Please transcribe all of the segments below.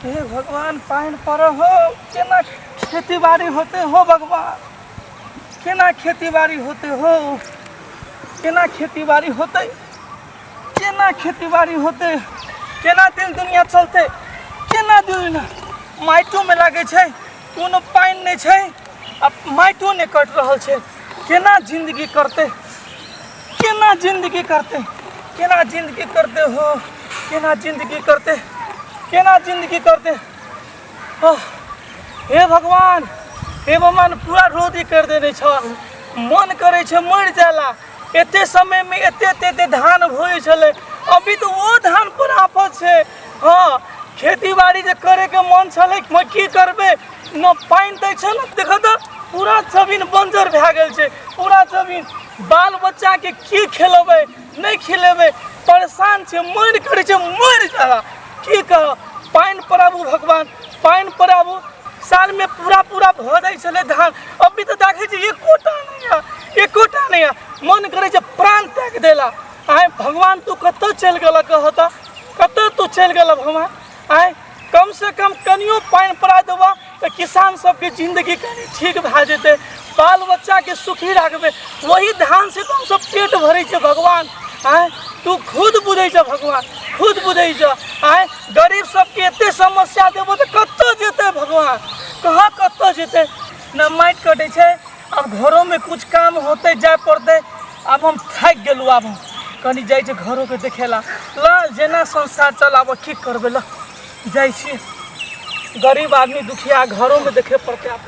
हे भगवान पानि पड़ऽ हो केना खेती बाड़ी होते हो भगवान केना खेती बाड़ी होते हो केना खेती बाड़ी होते केना खेती बाड़ी होते केना दिल दुनिया चलते केना दिल दुनिया माइटोमे लागै छै कोनो पानि नहि छै आ माटिओ नहि कटि रहल छै केना जिन्दगी करतै केना जिन्दगी करतै केना जिन्दगी करतै हो केना जिन्दगी करतै केना जिन्दगी करतै आह, हे भगवान हे भगवान पूरा रोदी करि देने छह मन करै छै मरि जाय ला एते समयमे एते एते एते धान होइ छलै अभी तऽ ओ धान पर आफत छै हँ खेती बाड़ी जे करैके मन छलै म की करबै न पानि दै छै ने देखऽ तऽ पूरा जमीन बंजर भए गेल छै पूरा जमीन बाल बच्चाके की खेलेबै नहि खेलेबै परेशान छै मरि करै छै मरि जादा की कह पानि पड़ाबू भगवान पानि पड़ाबू सालमे पूरा पूरा भऽ जाइ छलै धान अभी तऽ देखै छी एकोटा नहि यऽ एकोटा नहि यऽ मन करै छै प्राण त्याग देला आइ भगवान तू कतऽ चलि गेलऽ कहऽ तऽ कतऽ तू चलि गेल भमा आय कम से कम कनियो पानि पड़ा देबा तऽ किसान सबके जिंदगी कनि ठीक भए जेतै बाल बच्चाके सुखी राखबै वही धान से तऽ हमसब पेट भरै छै भगवान आय तू खुद बुझै छह भगवान खुद बुझै छह आय गरीब सबके एते समस्या देबो तऽ कतऽ जेतै भगवान कहाँ कतऽ जेतै ने माटि कटै छै अब घरों में कुछ काम होते जाए पड़ते अब हम थक गेलू अब हम कनी जाइ छै घरों के देखेला ल जेना संसार चलाबऽ की करबे ल जाइ छी गरीब आदमी दुखिया घरों में देखे पड़ते आप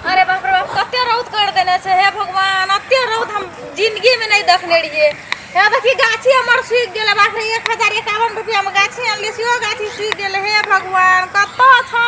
अरे बाप रे बाप कते रौद कर देने छै हे भगवान अते रौद हम जिंदगी में नहीं देखने रहिए हे देखी गाछी हमर सूखि गेल बाप रे एक हजार एकावन रुपया में गाछी आनलिए सेहो गाछी सूखि गेल हे भगवान कतऽ छौ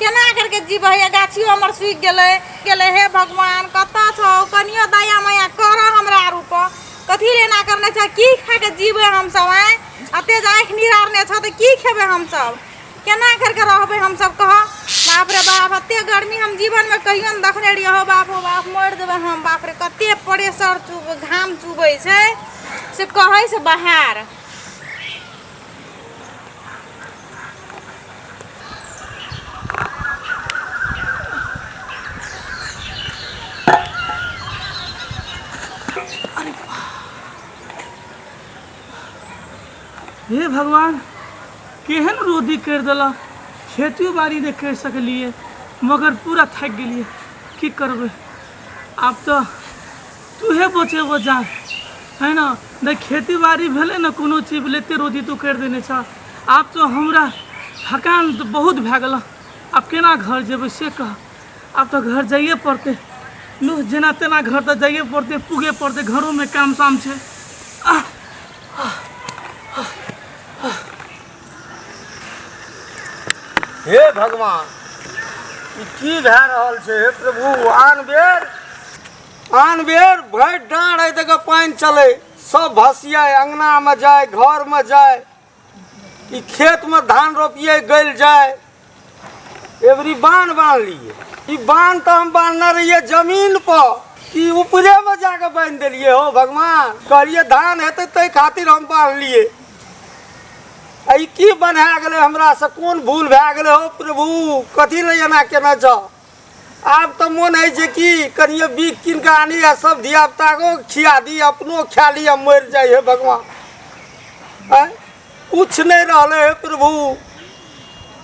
केना करके जीबै हे गाछियो हमर सूखि गेलै गेलै हे भगवान कतऽ छौ कनियो दया माया करऽ हमरा आर ऊपर कथी ले एना करने छै की खा के जीबै हमसब आँय अते जे आँखि निहारने छौ तऽ की खेबै हमसब केना करके रहबै हमसब कह बाप रे बाप एते गर्मी हम जीवनमे कहियो नहि देखने रहियै हौ बाप हो बाप मरि जेबै हम बाप रे कते प्रेशर चुब घाम चुबै छै से कहै से बाहर हे भगवान केहन रोदी करि देलक खेतियो बाड़ी नहि करि सकलियै मगर पूरा थाकि गेलियै की करबै आब तऽ तू हे बचे वो जान है ना न खेती बाड़ी भेले न कोनो चीज भेले ते रोजी तू कर देने छ आब तो हमरा थकान तो बहुत भए गेल आब केना घर जेबै से कह आब तो घर जाइए पड़तै लू जेना तेना घर तऽ जाइए पड़तै पूगे पड़तै घरोमे काम साम छै आह हे भगवान ई की भए रहल छै हे प्रभु आन बेर आन बेर भरि डाँड़ एहि दऽ कऽ पानि चलै सभ भसियै अङ्गनामे जाय घरमे जाय ई खेतमे धान रोपियै गलि जाय एबरी बान्ह बान्हलियै ई बान्ह तऽ हम बान्हने रहियै जमीन पर कि ऊपरेमे जा कऽ बान्हि देलियै हो भगवान कहलियै धान हेतै ताहि खातिर हम बान्हलियै आ ई की बन्हा गेलै हमरासँ कोन भूल भए गेलै हो प्रभु कथी लए एना केने छह आब तऽ मोन होइ छै कि कनियो बीख कीन कऽ आनी आ सब धिया पुताको खिया दी अपनो खा ली आ मरि जाइ हे भगवान आँय? कुछ नहि रहले हे प्रभु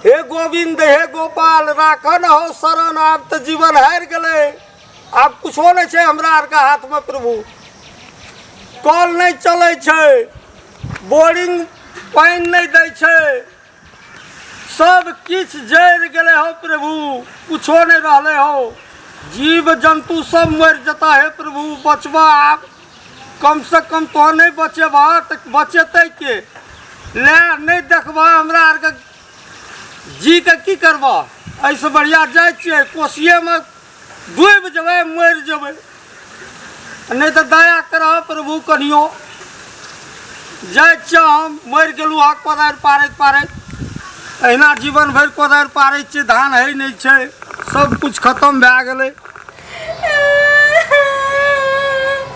हे गोविंद हे गोपाल राखऽ न हो शरण आब तऽ जीवन हारि गेलै आब कुछो नहि छै हमरा आरके हाथमे प्रभु कल नहि चलै छै बोरिंग पानि नहि दै छै सब किछ जरि गेले हो प्रभु कुछो नहीं रहले हो जीव जंतु सब मर जता है प्रभु बचबा आप कम से कम तो नहीं बचेबा तो बचेते के ले नहीं देखबा हमरा आर के जी के की करबा ऐसे बढ़िया जाए छिए कोसिए में डूबि जेबै मरि जेबै नहि तऽ दया करह प्रभु कनियो जाइ छियै हम मरि गेलहुँ हँ कोदारि पारैत पारैत अहिना जीवन भरि कोदारि पारै छियै धान है नहि छै सब किछु खतम भए गेलै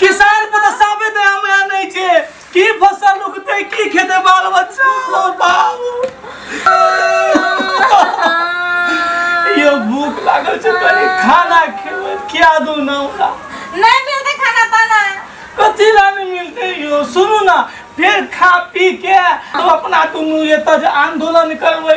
किसान पर तो साबे दे हम यहाँ नहीं छे की फसल उगते की खेते बाल बच्चा हो बाबू यो भूख लागल छे कनी खाना खेबे क्या दू ना ओकरा नहीं मिलते खाना पाना कथी ला नहीं मिलते यो सुनू ना फिर खा पी के तो अपना दुनू ये तज आंदोलन करबै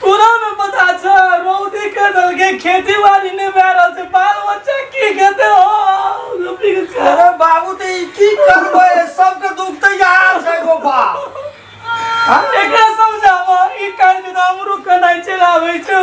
तोरा में पता छ रौदी के दल के खेती बाड़ी ने भए रहल छै बाल बच्चा की खेते हो लपटी के छै। अरे बाबू ते ई की करबै सबके दुख ते यार छै गो बा एकरा समझाबो ई काज के हमरो कनाइ चलाबै छै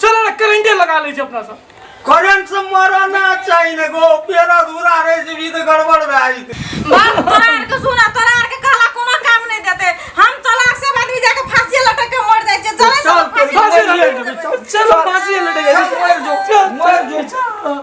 चलो ना करंटे लगा ले छी अपना सब करंट से मरो ना चाहिए ने गो पेड़ अधूरा रह जेबी तो गड़बड़ भए जेतै बाप तोरा आर के सुना तोरा आर के कहला कोनो काम नहीं देते हम चला सब आदमी जाके फांसी लटक के मर जाए छे चले चल, सब फांसी फांसी लटक लटक के। चल चलो फांसी लटक मर जो मर जो